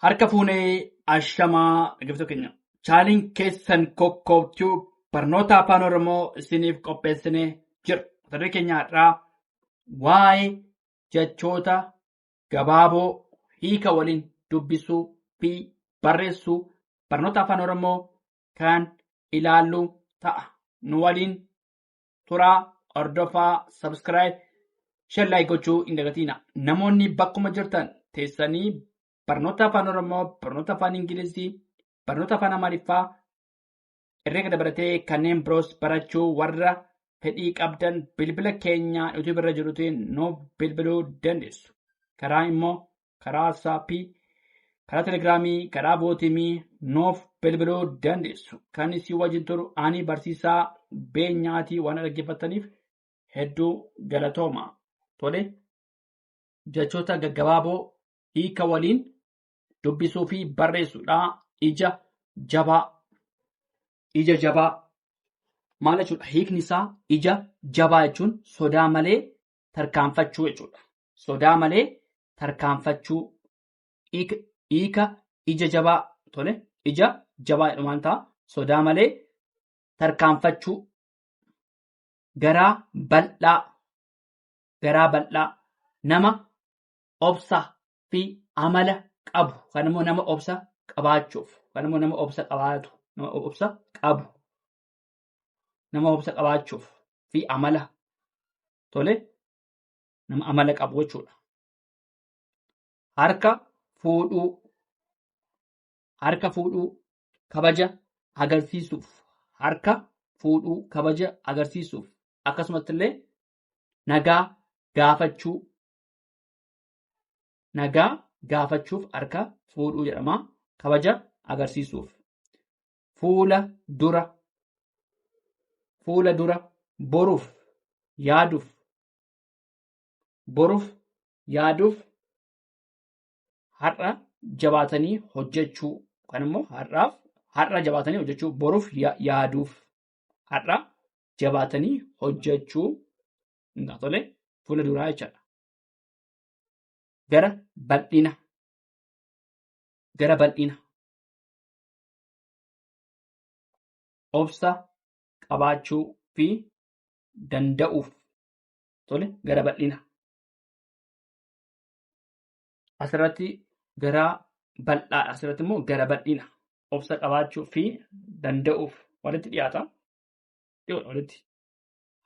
Harka fuunee ashamaa dhaggeeffattoota keenya. Chaaniin keessan kokkoobtuu barnoota afaan Oromoo isiniif qopheessinee jira. Mata duree keenya har'aa waa'ee jechoota gabaaboo hiika waliin dubbisuu fi barreessuu barnoota afaan Oromoo kan ilaallu ta'a. Nu waliin turaa hordofaa subscribe shan laayik gochuu hin dagatiina namoonni bakkuma jirtan teessanii barnoota afaan oromoo barnoota afaan ingilizii barnoota afaan amaariffaa herreega dabalatee kanneen biroos barachuu warra fedhii qabdan bilbila keenya yuutuubii irra jirutiin nuuf bilbiluu dandeessu karaa immoo karaa waatsaappii, karaa telegiraamii, karaa bootimii nuuf bilbiluu dandeessu. Kan isin wajjin turu ani barsiisaa beenyaatii waan dhaggeeffattaniif hedduu galatooma. Tole jechoota gaggabaaboo hiika waliin dubbisuu fi barreessuudha. Ija jabaa. Ija jabaa. Maal jechuudha? Hiikni isaa ija jabaa jechuun sodaa malee tarkaanfachuu jechuudha. sodaa malee tarkaanfachuu hiika hiika ija jabaa tole ija jabaa jedhumaan ta'a sodaa malee tarkaanfachuu garaa bal'aa garaa bal'aa nama obsa fi amala qabu kan immoo nama obsa qabaachuuf kan immoo nama obsa qabaatu nama obsa qabu nama obsa qabaachuuf fi amala tole nama amala qabu jechuudha. Harka fuudhuu, harka fuudhuu, kabaja agarsiisuuf, harka fuudhuu, kabaja agarsiisuuf, akkasumas illee nagaa gaafachuu, nagaa gaafachuuf harka fuudhuu jedhama. Kabaja agarsiisuuf. Fuula dura, fuula dura, boruuf, yaaduuf, Boruuf yaaduuf har'a jabaatanii hojjechuu kan immoo har'aaf har'a jabaatanii hojjechuu boruuf yaaduuf har'a jabaatanii hojjechuu ingaa tole fuula duraa jechaadha. Gara bal'ina gara bal'ina obsa qabaachuu fi danda'uuf tole gara bal'ina. Asirratti gara bal'aa asirratti immoo gara bal'ina obsa qabaachuu fi danda'uuf walitti dhiyaata. Dhiyoodha walitti.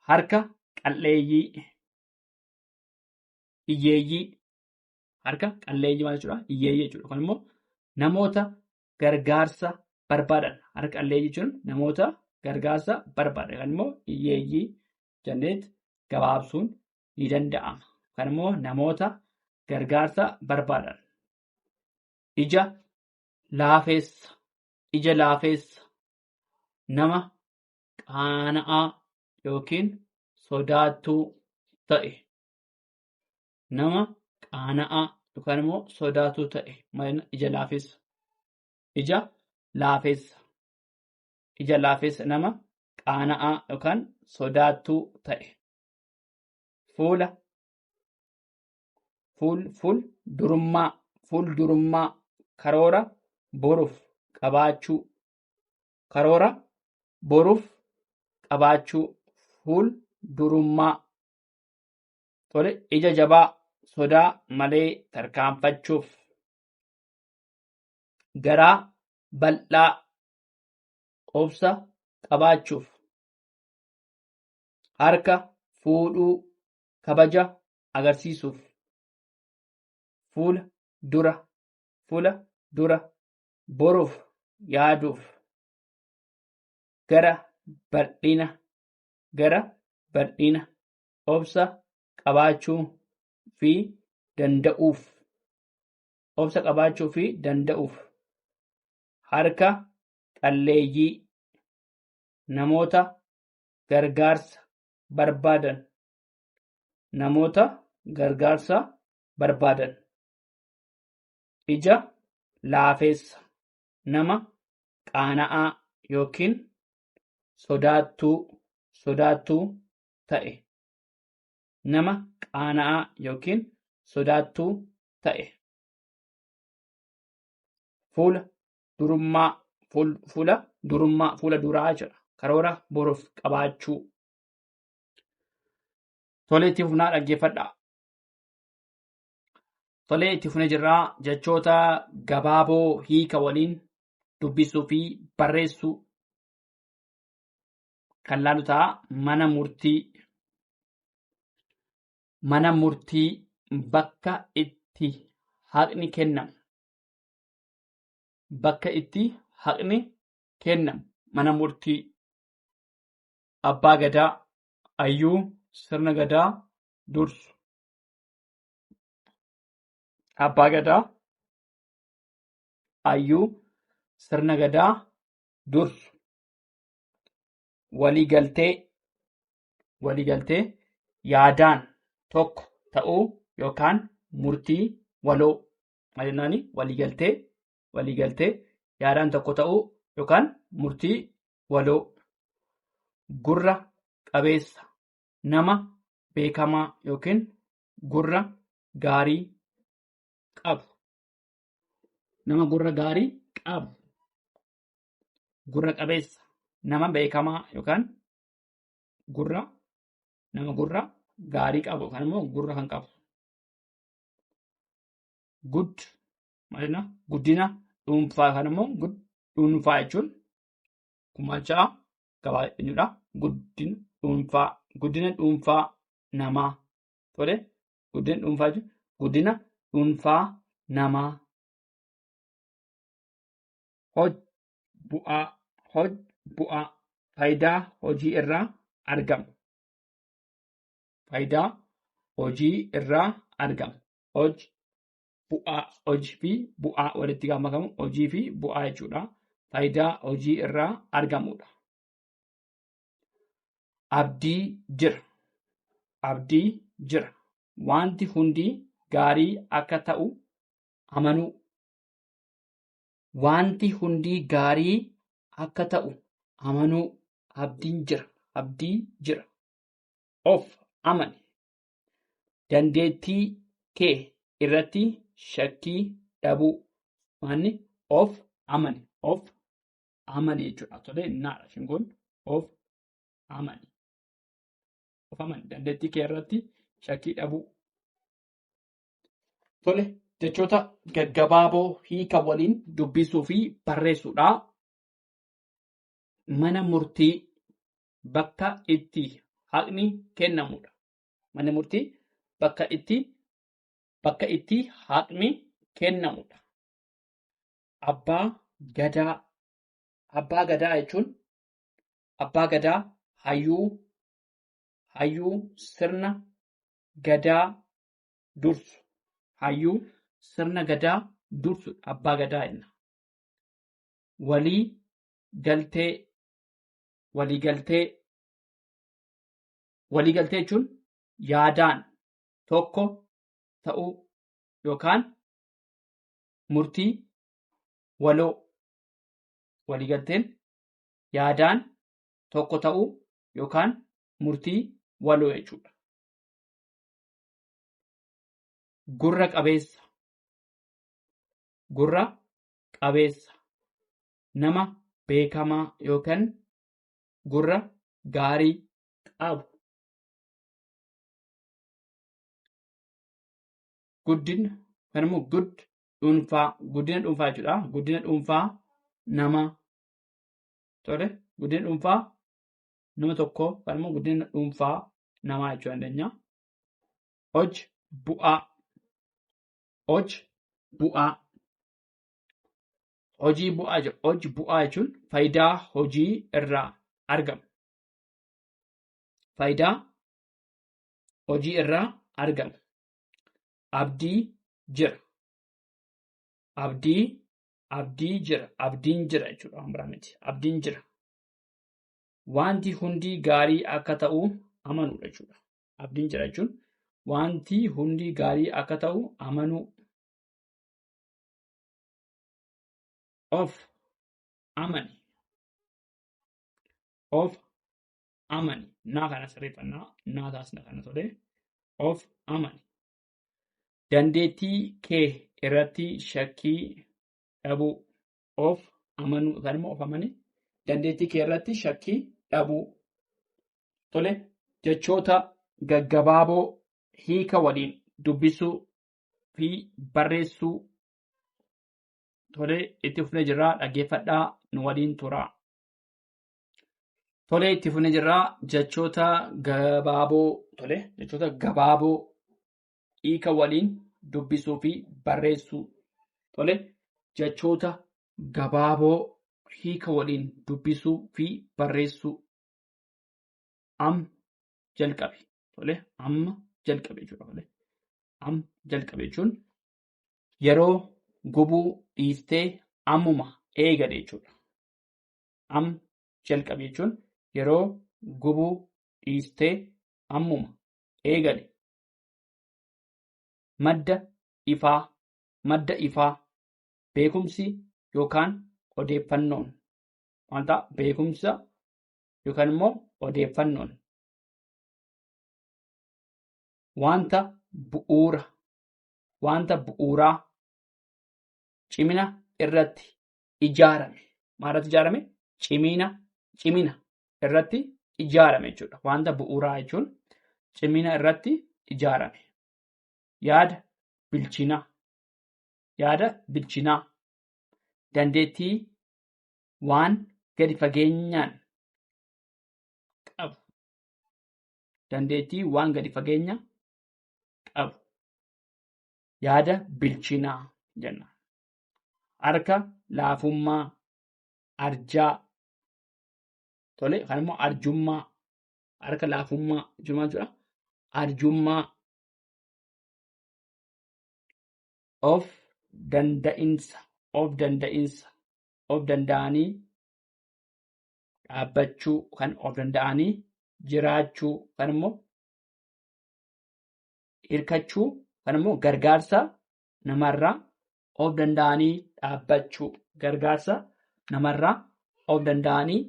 Harka qal'eeyyii hiyyeeyyii harka qal'eeyyii maal jechuudha? Hiyyeeyyii jechuudha. Kun immoo namoota gargaarsa barbaadan harka qalleeyyii jechuun namoota gargaarsa barbaadan yookaan immoo hiyyeeyyii jenneet gabaabsuun ni danda'ama. Yookaan immoo namoota gargaarsa barbaadan ija laafeessa ija laafeessa nama qaana'aa yookiin sodaattuu ta'e nama qaana'aa yookaan immoo sodaatuu ta'e maayina ija laafessa. Ija laafessa. Ija laafessa nama qaana'aa yookaan sodaatuu ta'e. Fuula fuul fuul durummaa fuul durummaa karoora boruuf qabaachuu karoora boruuf qabaachuu fuul durummaa Tole ija jabaa sodaa malee tarkaanfachuuf garaa bal'aa obsa qabaachuuf harka fuudhuu kabaja agarsiisuuf fuula dura fuula dura boruuf yaaduuf gara bal'ina gara bal'ina obsa qabaachuu fi danda'uuf obsa qabaachuu fi danda'uuf harka qalleeyyii namoota gargaarsa barbaadan namoota gargaarsa barbaadan ija laafeessa nama qaana'aa yookiin sodaattuu sodaattuu ta'e. Nama qaana'aa yookiin sodaattuu ta'e. Fuula durummaa fuul- fuula durummaa fuula duraa jedha. Karoora boruuf qabaachuu. Tolee itti fufnaa dhaggeeffadhaa. Tolee itti fufnee jirraa jechoota gabaaboo hiika waliin dubbisuu fi barreessuu. kan laalu ta'a mana murtii mana murtii bakka itti haqni kennamu bakka itti haqni kennamu mana murtii abbaa gadaa ayyuu sirna gadaa dursu abbaa gadaa ayyuu sirna gadaa dursu waliigaltee waliigaltee yaadaan tokko ta'uu yookaan murtii waloo maal jennaani waliigaltee waliigaltee yaadaan tokko ta'uu yookaan murtii waloo gurra qabeessa nama beekamaa yookiin gurra gaarii qabu nama gurra gaarii qabu gurra qabeessa nama beekamaa yookaan gurra nama gurra gaarii qabu yookaan immoo gurra kan qabu. Gud maalina guddina dhuunfaa yookaan immoo gud dhuunfaa jechuun gumaacha gabaa jechuudha. Guddina dhuunfaa guddina dhuunfaa namaa tole guddina dhuunfaa jechuun guddina dhuunfaa namaa hoj bu'aa hoj bu'aa faayidaa hojii irraa argamu faayidaa hojii irraa argamu hoj bu'aa hojii fi bu'aa walitti gaafa makamu hojii fi bu'aa jechuudha faayidaa hojii irraa argamudha abdii jira abdii jira wanti hundi gaarii akka ta'u amanuu Waanti hundii gaarii akka ta'u amanuu. Abdiin jira. Abdii jira. Of amani. Dandeettii kee irratti shakkii dhabuu. Maanni of amani. Of amani jechuudha. Tolee naadha shingoon of amani. Of amani. Dandeettii kee irratti shakkii dhabuu. Tole jechoota gaggabaaboo hiika waliin dubbisuu fi barreessuudha. Mana murtii bakka itti haqni kennamudha. Mana murtii bakka itti bakka itti haqni kennamudha. Abbaa gadaa abbaa gadaa jechuun abbaa gadaa hayyuu hayyuu sirna gadaa dursu. Hayyuu sirna gadaa dursu abbaa gadaa jenna. Walii galtee walii galtee walii galtee jechuun yaadaan tokko ta'uu yookaan murtii waloo walii galteen yaadaan tokko ta'uu yookaan murtii waloo jechuudha. gurra qabeessa gurra qabeessa nama beekamaa yookan gurra gaarii qabu guddina kan immoo gud dhuunfaa guddina dhuunfaa jechuudha guddina dhuunfaa nama tole guddina dhuunfaa nama tokkoo yookaan immoo guddina dhuunfaa namaa jechuu dandeenya. Hoj bu'aa. Hoj bu'aa. Hojii bu'aa jechuun hoj bu'aa jechuun faayidaa hojii irraa argamu. Faayidaa hojii irraa argamu. Abdii jira. Abdii abdii jira. Abdiin jira jechuudha waan biraa miti. Abdiin jira. wanti hundi gaarii akka ta'u amanuudha jechuudha. Abdiin jira jechuun wanti hundi gaarii akka ta'u amanuu of amani of amani naa kana sirreeffannaa naa taasna kana tole of amani dandeettii kee irratti shakkii dhabuu of amanuu yookaan immoo of amanii dandeettii kee irratti shakkii dhabuu. Tole jechoota gaggabaaboo hiika waliin dubbisuu fi barreessuu tole itti fufnee jirraa dhaggeeffadhaa nu waliin turaa. Tole itti fufnee jirraa jechoota gabaaboo tole jechoota gabaaboo hiika waliin dubbisuu fi barreessuu. Tole, jechoota gabaaboo hiika waliin dubbisuu fi barreessuu. Am jalqabe. Tole, amma jalqabe jechuudha. Tole, am jalqabe jechuun yeroo gubuu dhiiftee ammuma eegale jechuudha. Am jalqabe jechuun yeroo gubuu dhiiftee ammuma eegale madda ifaa madda ifaa beekumsi yookaan odeeffannoon wanta beekumsa yookaan immoo odeeffannoon wanta bu'uura wanta bu'uuraa cimina irratti ijaarame. Maalirratti ijaarame? Cimina, cimina irratti ijaarame jechuudha. Wanta bu'uuraa jechuun cimina irratti ijaarame. Yaada bilchinaa. Yaada bilchinaa. Dandeettii waan gadi fageenyaan qabu. Dandeettii waan gadi fageenya qabu. Yaada bilchinaa jenna. harka laafummaa arjaa tole kan immoo arjummaa harka laafummaa jechuun maal jechuudha arjummaa of danda'insa of danda'insa of danda'anii dhaabbachuu kan of danda'anii jiraachuu kan immoo hirkachuu kan immoo gargaarsa namarraa of danda'anii dhaabbachuu gargaarsa namarraa of danda'anii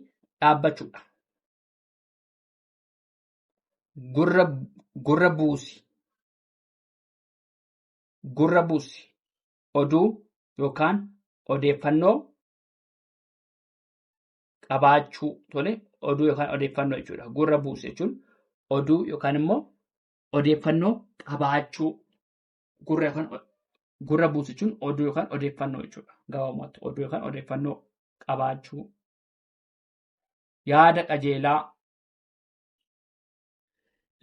dhaabbachuudha. Gurra gurra buusi gurra buusi oduu yookaan odeeffannoo qabaachuu tole oduu yookaan odeeffannoo jechuudha. Gurra buusi jechuun oduu yookaan immoo odeeffannoo qabaachuu gurra yookaan gurra buusu jechuun oduu yookaan odeeffannoo jechuudha. Gabaabumatti oduu yookaan odeeffannoo qabaachuu yaada qajeelaa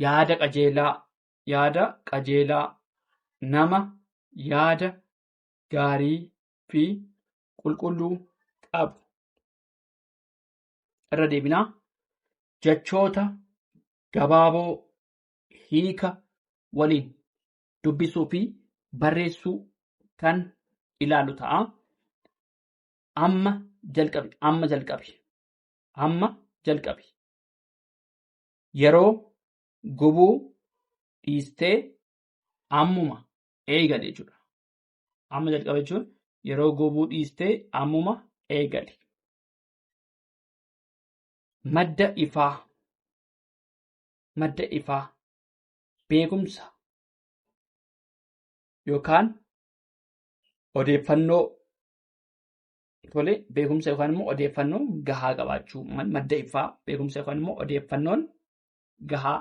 yaada qajeelaa yaada qajeelaa nama yaada gaarii fi qulqulluu qabu irra deebinaa jechoota gabaaboo hiika waliin dubbisuu fi barreessuu kan ilaalu ta'a. Amma jalqabi. Amma jalqabi. Amma jalqabi. Yeroo gubuu dhiistee ammuma eegali jechuudha. Amma jalqaba jechuun yeroo gubuu dhiistee ammuma eegali. Madda ifaa. madda ifaa beekumsa yookaan odeeffannoo tole beekumsa yookaan immoo odeeffannoo gahaa qabaachuu madda ifaa beekumsa yookaan immoo odeeffannoon gahaa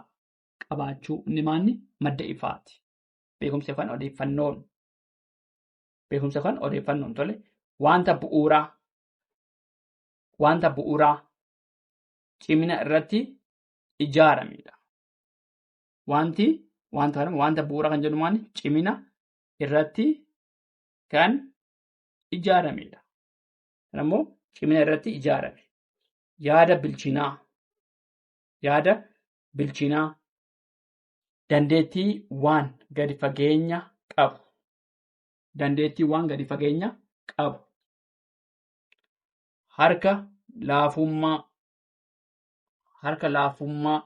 qabaachuu inni maanni madda ifaati. Beekumsa yookaan odeeffannoon beekumsa yookaan odeeffannoon tole wanta bu'uuraa wanta bu'uuraa cimina irratti ijaaramedha. Wanti wanta kana wanta bu'uura kan jedhu maali? Cimina irratti kan ijaaramedha. Kana immoo cimina irratti ijaarame. Yaada bilchinaa. Yaada bilchinaa. Dandeettii waan gadi fageenya qabu. Dandeettii waan gadi fageenya qabu. Harka laafummaa. harka laafummaa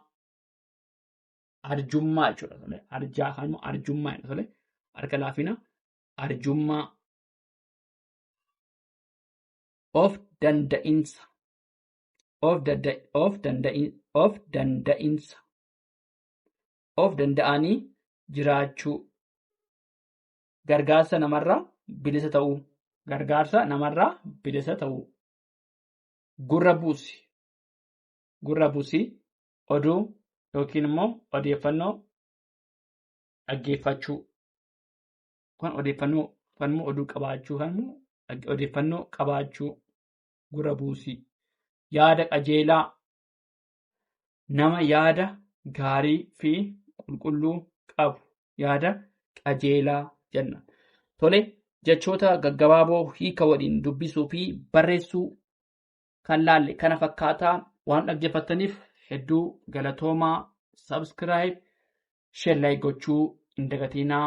arjummaa jechuudha tole arjaa kan immoo arjummaa jedha tole harka laafina arjummaa of danda'insa of danda of danda'in of danda'insa of danda'anii jiraachuu gargaarsa namarraa bilisa ta'uu gargaarsa namarraa bilisa ta'uu gurra buusi gurra busii oduu yookiin immoo odeeffannoo dhaggeeffachuu kan odeeffannoo kan immoo oduu qabaachuu kan immoo dhag- odeeffannoo qabaachuu gurra buusii yaada qajeelaa nama yaada gaarii fi qulqulluu qabu yaada qajeelaa jenna. Tole jechoota gaggabaaboo hiika waliin dubbisuu fi barreessuu kan laalle kana fakkaataa waan dhaggeeffattaniif hedduu galatoomaa subscribe share like gochuu hin dagatinaa.